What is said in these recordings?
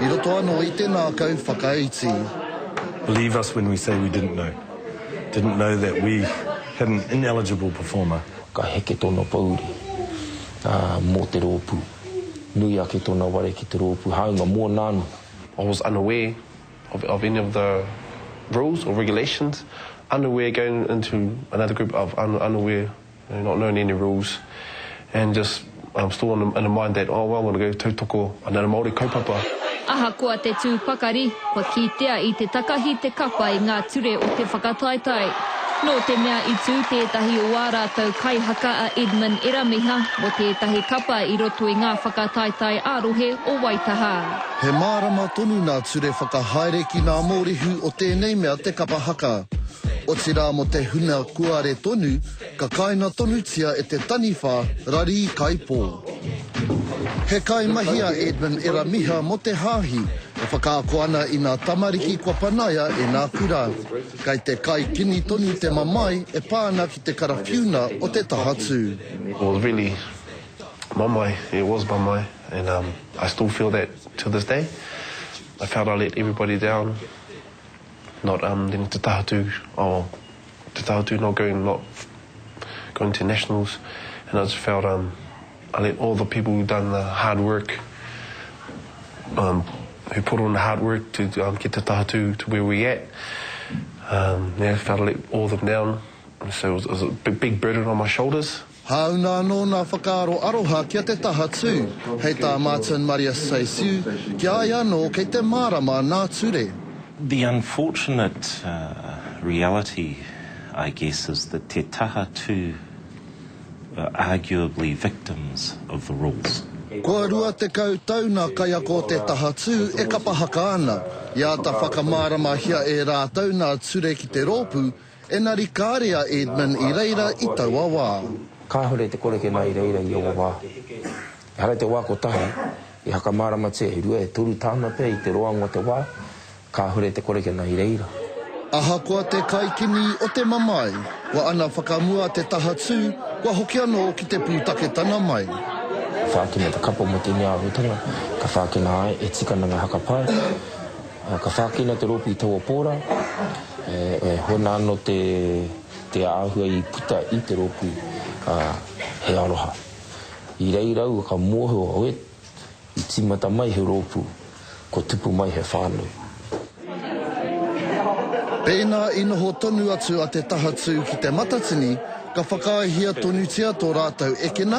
I roto anō i te ngākau whakaiti. Believe us when we say we didn't know. Didn't know that we had an ineligible performer. Ka heke tōna pōuri mō te rōpū. Nui ake tōna ware ki te rōpū, hāunga mōna anō. I was unaware of of any of the rules or regulations, unaware going into another group of unaware. They're not known any rules and just um still in the mind that oh well I'm gonna go tautoko another Māori kaupapa. Ahakoa te tū pakari, kua kitea i te takahi te kapa i ngā ture o te whakataetae. Nō te mea i tū tētahi o ā rātou kaihaka a Edmund Eramiha mō tētahi kapa i roto i ngā whakataetae ā-rohe o Waitaha. He mārama tonu ngā ture whakahaere ki ngā mōrehu o tēnei mea te kapa haka. Otirā mō te huna kuare tonu ka kaina tonutia e te taniwha rarī kaipō. He kaimahi a Edmund Eramiha mō te Hāhi e whakaako ana i nā tamariki kua panaia e nā kura. Kai te kai kini tonu te mamae e pā ana ki te karawhiuna o te taha tū. It was really mamae, it was mamae and um I still feel that to this day. I felt I let everybody down Not um then te taha tū oh te taha tū not going not going to nationals and I just felt um I let all the people who done the hard work um who put on the hard work to um get te taha tū to where we at um yeah felt I let all of them down so it was a big burden on my shoulders. Hāunga anō ngā whakaaro aroha ki a Te Taha Tū, hei tā Martin Maria Saissiu, ki a ia anō kei te mārama nā ture. The unfortunate reality I guess is that Te Taha Tū are arguably victims of the rules. Kua 20 tau nā kaiako o Te Taha Tū e kapa haka ana. I āta whakamāramahia e rātou nā ture ki te rōpū, Engari kāre a Edmund i reira i taua wā. Kāore te kore kena i reira i aua wā. Ehara i te wā kotahi, i hakamāramatia e rua, e toru tāna pea i te roanga o te wā, kāore te kore kena i reira. Ahakoa te kaikini o te mamae, kua ana whakamua te taha tū, kua hoki anō ki te pūtaketanga mai. Whākina te kapa mō tēnei āhuatanga, ka whākina ai e tikana ngā haka pae. Ka whākina te rōpū i taua pōra, e hoa ana anō te āhua i puta i te rōpū, ā, he aroha. I reira aua ka mōhio, oē, i tīmata mai he rōpū, kua tupu mai he whānau. Pēnā i noho tonu atu a Te Tahatū ki Te Matatini, ka whakaaehia tonutia tō rātou ekena,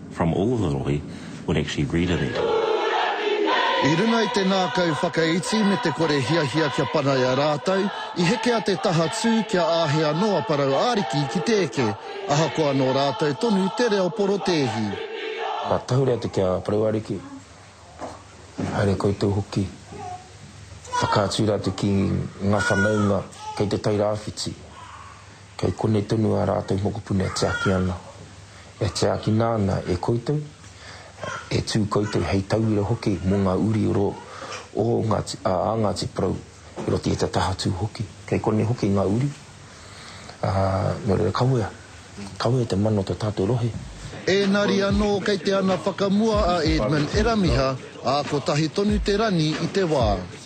From all of the rohe would actually read it at. I runga i te ngākau whakaiti me te kore hiahia kia panaia rātou, i heke a Te Taha Tū kia āhei anō a Parau Ariki ki te eke, ahakoa nō rātou tonu te reo porotēhi. Ka tahuri atu ki a Parau Ariki, haere koutou hoki, whakaatu rātou ki ngā whanaunga kei te Tairāwhiti. Kei konei tonu ā rātou mokopuna e tiaki ana, e tiakina ana e koutou, e tū koutou hei tauira hoki mō ngā uri oro o Ngāti, ā, a Ngāti Porou i roto i te tahatū hoki. Kei konei hoki ngā uri, ā, nō reira kawea, kawea te mana o tō tātou rohe. Ēngari anō kei te ana whakamua a Edmund Eramiha, ā, kotahi tonu te rangi i te wā.